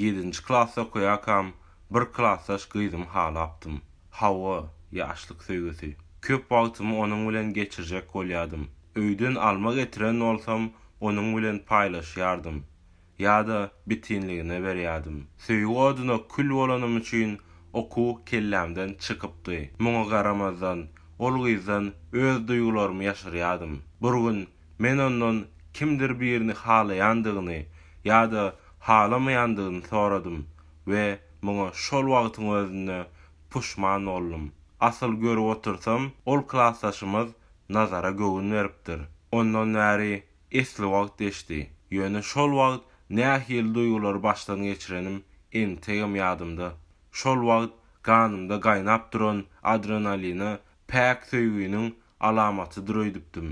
Ýedinji klasda okaýarkam bir klasdaş gyzym halapdym. Hawa, ýaşlyk söýgüsi. Köp wagtymy onuň bilen geçirjek bolýadym. Öýden alma getiren bolsam onuň bilen paýlaşýardym. Ýa-da bitinligine berýärdim. Söýgi oduna kül bolanym üçin okuw kellämden çykypdy. Muňa garamazdan, ol gyzdan öz duýgularymy ýaşyrýardym. Bir gün Men ondan kimdir birini halaýandygyny ýa-da halamaýandygyny soradym we muňa şol wagtyň özünde puşman boldum. Asyl görüp otursam, ol klasdaşymyz Nazara göwün beripdir. Ondan bäri esli wagt geçdi, ýöne şol wagt nähili duýgulary başdan geçirenim entegem ýadymda. Şol wagt ganymda gaýnap duran adrenaline päk söýginiň alamatydyr öýdüpdim.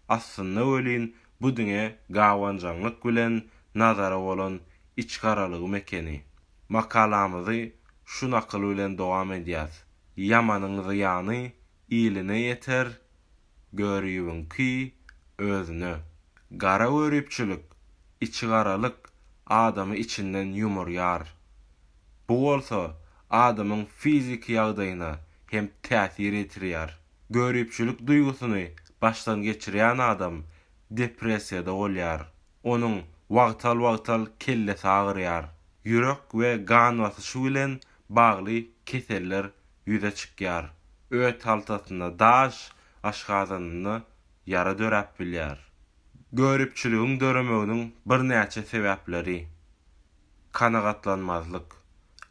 Aslynda welin bu diňe gabanjaňlyk bilen Nazara bolan içgaralygym ekeni. Makalamyzy şu nakyl bilen dowam edýäs, Ýamanyň zyýany iline ýeter, görübiňki, özüne. Gara görüpçilik, içigaralyk adamy içinden ýumurýar. Bu bolsa adamyň fiziki ýagdaýyna hem täsir ýetirýär. Göripçilik duýgusyny başdan geçirýän adam depressiýada bolýar. Onuň wagtal-wagtal kellesi agyrýar. Ýürek we gan basyşy bilen bagly keseller ýüze çykýar. Öt haltasynda daş, aşgazanynda ýara döräp bilýär. Göripçiligiň döremeginiň birnäçe sebäpleri. kanagatlanmazlyk.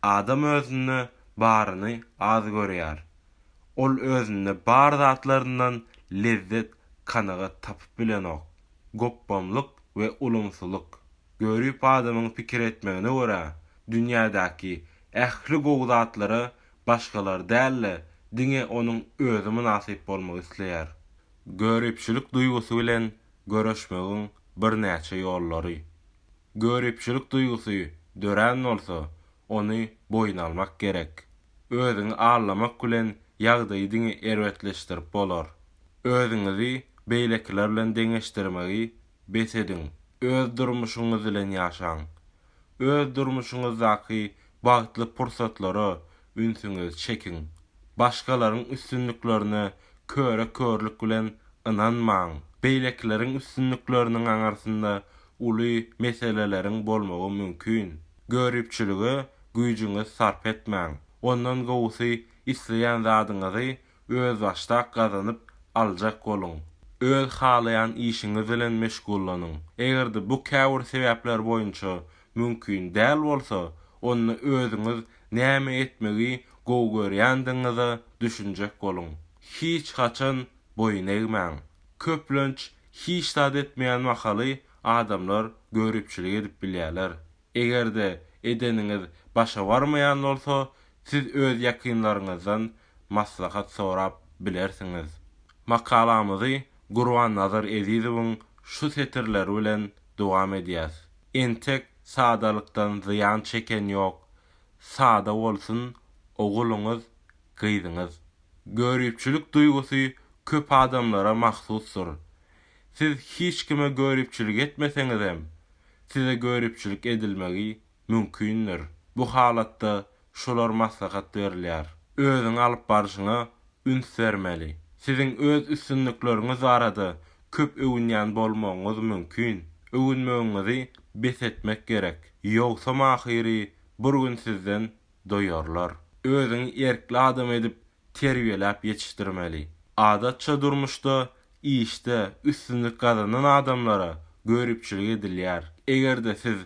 Adam özünde baryny az görýär. Ol özünde bar zatlaryndan lezzet, kanagat tapyp bilenok. Gopbamlyk we ulumsylyk. Görip adamyň pikir etmegine görä, dünýädäki ähli gowy zatlara başgalar däl-de, diňe onuň özi mynasyp bolmak isleýär. Göripçilik duýgusy bilen göreşmegiň birnäçe ýollary. Göripçilik duýgusy dörän bolsa, ony boýun almak gerek. Özüňi allamak bilen ýagdaýy diňe erbetleşdirip bolar. Özüňizi beýlekiler bilen deňeşdirmegi bes ediň, öz durmuşyňyz bilen ýaşaň. Öz durmuşyňyzdaky bagtly pursatlara ünsüňizi çekiň. Başgalaryň üstünliklerine köre-körlük bilen ynanmaň. Beýlekileriň üstünlikleriniň aňyrsynda uly meseleleriň bolmagy mümkin. Göripçilige güýjüňiz sarp etmäň. Ondan gowusy isleýän zadyňyzy özbaşdak gazanyp aljak boluň. Öz halaýan işiňiz bilen meşgullanyň. Eger-de bu käbir sebäpler boýunça mümkin däl bolsa, onda özüňiz näme etmegi gowy görýändigiňize düşünjek boluň. Hiç haçan boýun egmäň. Köplenç, hiç zat etmeýän mahaly adamlar göripçilik edip bilýärler. Eger-de edeniňiz başa barmaýan bolsa, siz öz ýakynlaryňyzdan maslahat sorap bilersiňiz. Makalamyzy Gurbannazar Ezizowyň şu setirleri bilen dowam edýäs, Entek sadalykdan zyýan çeken ýok, sada bolsun oguluňyz, gyzyňyz. Göripçilik duýgusy köp adamlara mahsusdyr. Siz hiç kime göripçilik etmeseňizem, size göripçilik edilmegi mümkindir. Bu halatda şular maslahat berilýär. Özüňi alyp barşyňa üns bermeli. Siziň öz üstünlikleriňiz barada köp öwünýän bolmagyňyz mümkin. Öwünmegiňizi bes etmek gerek. Ýogsam ahyry bir gün sizden doýarlar. Özüňi erkli adam edip terbiýeläp ýetişdirmeli. Adatça durmuşda, işde üstünlik gazanan adamlara göripçilik edilýär. Eger-de siz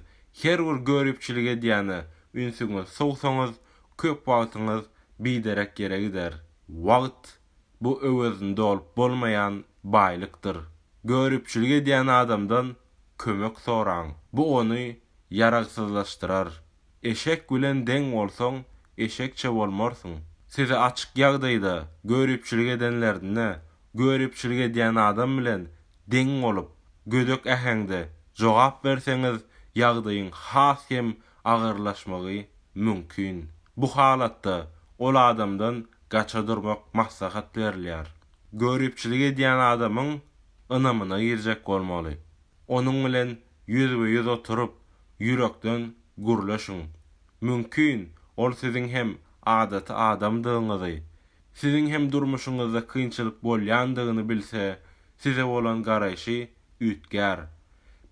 her bir göripçilik edýäne ünsüňiz sowsaňyz, köp wagtyňyz biderek ýere gider. Wagt, bu öwezini dolup bolmaýan baýlykdyr. Göripçilik edýän adamdan kömek soraň. Bu ony ýaragsyzlaşdyrar. Eşek bilen deň bolsaň, eşekçe bolmarsyň. Sizi açyk ýagdaýda göripçilik edenlerinde, göripçilik edýän adam bilen deň bolup, gödek äheňde jogap berseňiz, ýagdaýyň has hem agyrlaşmagy mümkin. Bu halatda ol adamdan gaça durmak maslahat berilýär. Göripçilik edýän adamyň ynamyna girjek bolmaly. Onuň bilen ýüzbe-ýüz oturyp, ýürekden gürleşiň. Mümkin, ol siziň hem adaty adamdygyňyzy, siziň hem durmuşyňyzda kynçylyk bolýandygyny bilse, size bolan garaýşy üýtgär.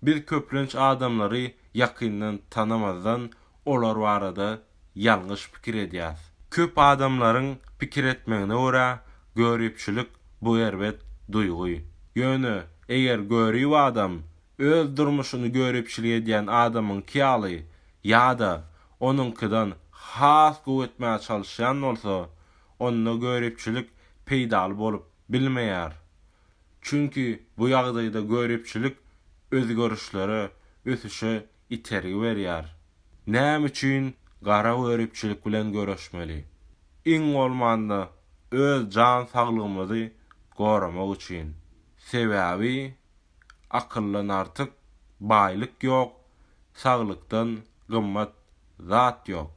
Biz köplenç adamlary ýakyndan tanamazdan, olar barada ýalňyş pikir edýäs. Köp adamlaryň pikir etmegine görä, göripçilik bu erbet duýgy. Ýöne, eger görip adam Öz durmuşyny göripçilik edýän adamyňky ýaly ýa-da onuňkydan has gowy etmäge çalyşýan bolsa, onda göripçilik peýdaly bolup bilmeýär. Çünki bu ýagdaýda göripçilik özgerişlere, ösüşe itergi berýär. Näme üçin gara göripçilik bilen göreşmeli? Iň bolmanda öz jan saglygymyzy goramak üçin. Sebäbi Akyldan artyk baýlyk ýok, saglykdan gymmat zat ýok.